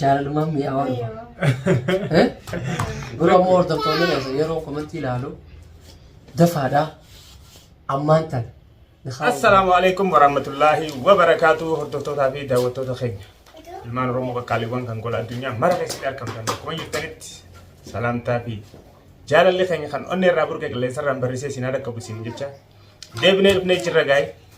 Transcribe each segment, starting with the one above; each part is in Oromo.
Jaalalumaan mi'aawaa dhufa. Eh? Yeroo ammoo hordoftoonni keessa yeroo komantii ilaalu dafaadhaa ammaan tan. Assalaamu alaikum warahmatullahi wabarakatuh hordoftootaa fi daawwattoota keenya. Ilmaan Oromoo qaqqaaliiwwan kan gola addunyaa mara keessatti argamtan akkuma jirtanitti salaamtaa fi jaalalli keenya kan onnee irraa burqe qilleensa irraan barrisee isin haa dhaqqabu isin jecha deebinee dhufnee jirra gaa'e.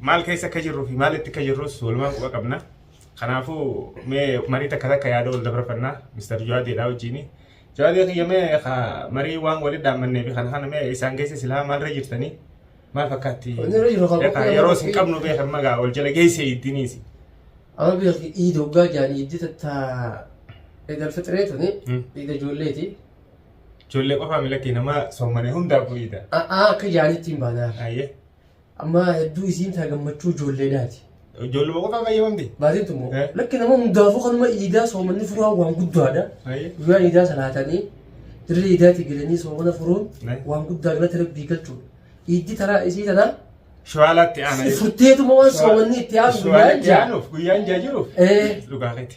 maal keessa akka jirruu fi maalitti akka jirrus walumaan quba qabna. Kanaafuu mee marii takka takka yaada wal dabarfannaa Mr. Jawaadiidhaa wajjini. Jawaadii kiyya mee ka marii waan walitti dhaammannee fi kana kana mee isaan keessa silaa maalirra jirtanii maal fakkaatti? Wanni irra jiru kan Beekaa, qophii Yeroo nama isin qophii. qabnu beekan magaa wal jala geesse iddiniisi. Amma beekti iida hoggaa jaan iiddi tattaa eegal fixiree tuni Hmm. iida ijoolleeti. Ijoollee qofaa milakkii nama soomane hundaaf bu'iidha. A'aa akka jaanitti hin baanaa. Ayyee. Amma hedduu isiin taa gammachuu ijoolleedhaati. Ijoolluma qofaa fayyadamte. Baatiin tummoo. Eh. Lakki nama hundaafuu kanuma iidaa soomanni furaa waan guddaadha. Ayi. Guyyaa iidaa salaatanii dirree iidaatii galanii soomana furuun Eh. waan guddaa galata rabbii galchuudha. Iiddi taraa isii tanaa Shawaalatti aanaa. furteetuma waan soomanni itti aanu guyyaa Shawaalatti jaa. aanuuf guyyaan jaa jiruuf. Eh. Dhugaa keeti.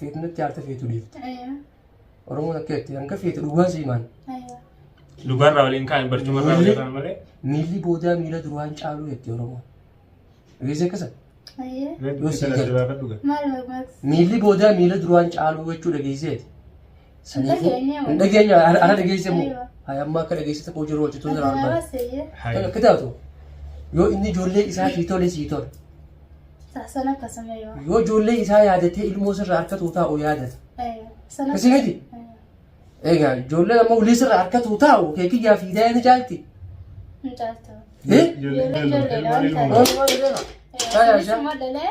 Feetu natti aarte feetu dhiifte. Ayyaa. Oromoon akka jetti hanga feetu dhugaa siimaan. Ayyaa. Dhugaarraa waliin kaa'in barcumarraa Miilli- waliin malee. Miilli boodaa miila duraan caaluu jetti Oromoon. Dhageessee akkasa? Ayyaa. Mee Yoo dubbii sii kana galu. asirraa kan dhugan. Maal barbaachisa? Miilli boodaa miila duraan caaluu jechuu dhageesseeti. Saniifi hin dhageenye ana dhageesse moo hay amma akka dhageessite koo jiru hojjetu jira armaan. Kan akka taatu yoo inni ijoollee isaa sii tole sii tole. Sana akkasuma yoo. Yoo ijoollee isaa yaadatee ilmoo sirra harkatu taa'u yaadata. Sana. Kasi miti. Egaa ijoollee ammoo ulii sirra harkatu taa'u kee kiyyaa fi daa'ee ni caalti. Hin caaltu. Eh? Ijoollee ijoolleedhaan kan. Oolmaa ni beeka. Taa'aa isaa. Ijoollee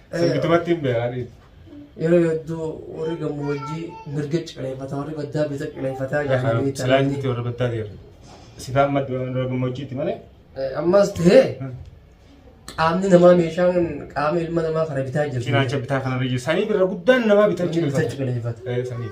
Sirbitumatti hin beekan. Yeroo hedduu warri gammoojjii mirga cireeffata warri baddaa bita cireeffataa jedhanii Silaa jirti warra baddaa deemu. Sifaan madda warra gammoojjiitti malee. Ammas ta'ee qaamni namaa meeshaan qaama ilma namaa kana bitaa jirti. Cinaacha bitaa kanarra jiru. Sanii birra guddaan namaa bitaa Inni bitaa cireeffata. cireeffata. Sanii.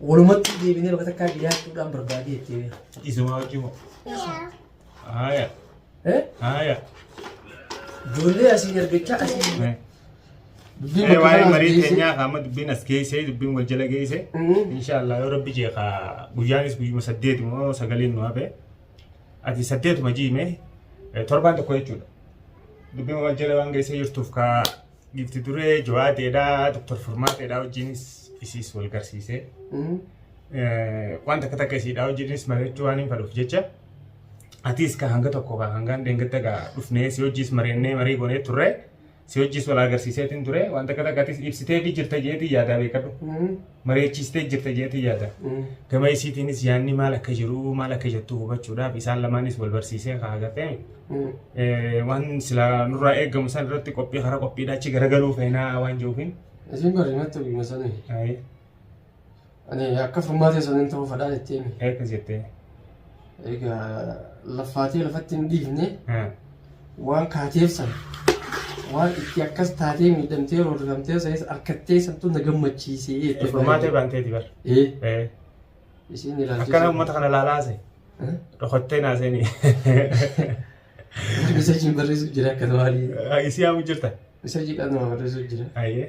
Walumatti deebinee bakka takkaa dhiyaachuudhaan barbaadee itti himee. Isuma wajjin moo? Haaya. Eh? Haaya. Ijoollee asii argachaa asii. Eh. Dubbiin Eh, bakka waa'ee kanaa marii asii geessee- keenyaa amma dubbiin as geessee dubbiin wal jala geessee Mhm. inshaallah yoo rabbi jee ka guyyaanis guyyuma saddeet moo sagaliin nu hafe ati saddeetuma jiime eh, torbaan tokko jechuudha dubbiin wal jala waan geessee jirtuuf ka Gifti duree jawaateedhaa Dr. Furmaateedhaa wajjinis isiis wal garsiisee waan takka takka isiidhaa wajjinis mari'achuu waan hin fadhuuf jecha atiis ka hanga tokko ka hangaan deengadda gaa dhufnee si wajjiis mari'annee marii goonee turre si wajjiis wal agarsiiseetiin ture waan takka takka atis ibsiteefii jirta jeetii yaadaa beekadhu. mari'achiistee jirta jedhee yaada. Gama isiitiinis yaadni maal akka jiru maal akka jettu hubachuudhaaf isaan lamaanis wal barsiisee kaa agartee waan silaa nurraa eegamu san irratti qophii karaa qophiidha achi garagaluu feenaa waan jiruufiin. Isin bari natti hima sanii. Ayi Ani akka furmaatee saniin ta'uu fadhaan itti himi. eekkas jettee. Egaa laffaatee lafatti hin dhiifne waan kaateef san waan itti akkas taatee miidhamtee roorrifamtee sanis harkattee santu na gammachiisee jette. Furmaatee baanteeti bar. Ee Eh, isiin ilaalchise. Akkana uummata kana laalaase. Eh? Dhokottee naaseenii. Miseejiin barreessuuf jira akka tawaalii. Isii haamuu jirta. Miseejii qaama barreessuuf jira. Ayyee.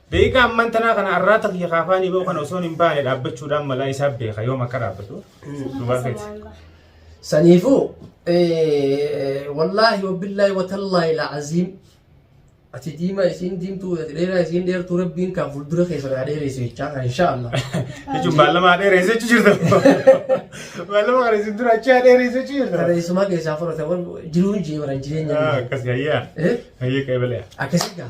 Daqiiqaa ammaan tanaa kana arraata kiyya kaafaanii ba'u kana osoon hin baane dhaabbachuudhaan malaa isaaf beeka yoom akka dhaabbatu dhugaa feeti. Saniifuu eh, wallaahi wabbillaahi watallaahi la'aziim ati diimaa isiin diimtuu ati dheeraa isiin dheertuu rabbiin kan fuuldura keessa naa dheereessu jechaa kan inshaallah. Jechuun baallamaa dheereessa jechuu jirta. Baallama kana isin dura achi dheereessa jechuu jirta. Tarreessumaa keessaa fudhate wal jiruun jee baran jireenya. Ah, Akkas hayyaa. Eh? Hayyaa qeebalee. Akkasii gaa.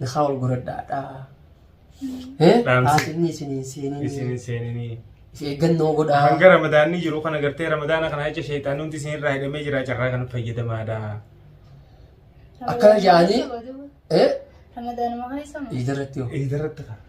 Nakaa wal goradhaa dhaa. Eh, Dhaamsi. Haasinni isin hin seeninii. Isin hin seeninii. Is eeggannoo godhaa. Hanga ramadaanni jiru kana gartee ramadaana kana jecha sheexaan hundi isin irraa hidhamee jira carraa kana fayyadamaadha. Akkana jedhanii- Eh, Ramadaanuma keessa moo? iidarratti hoo. Iidarratti kana.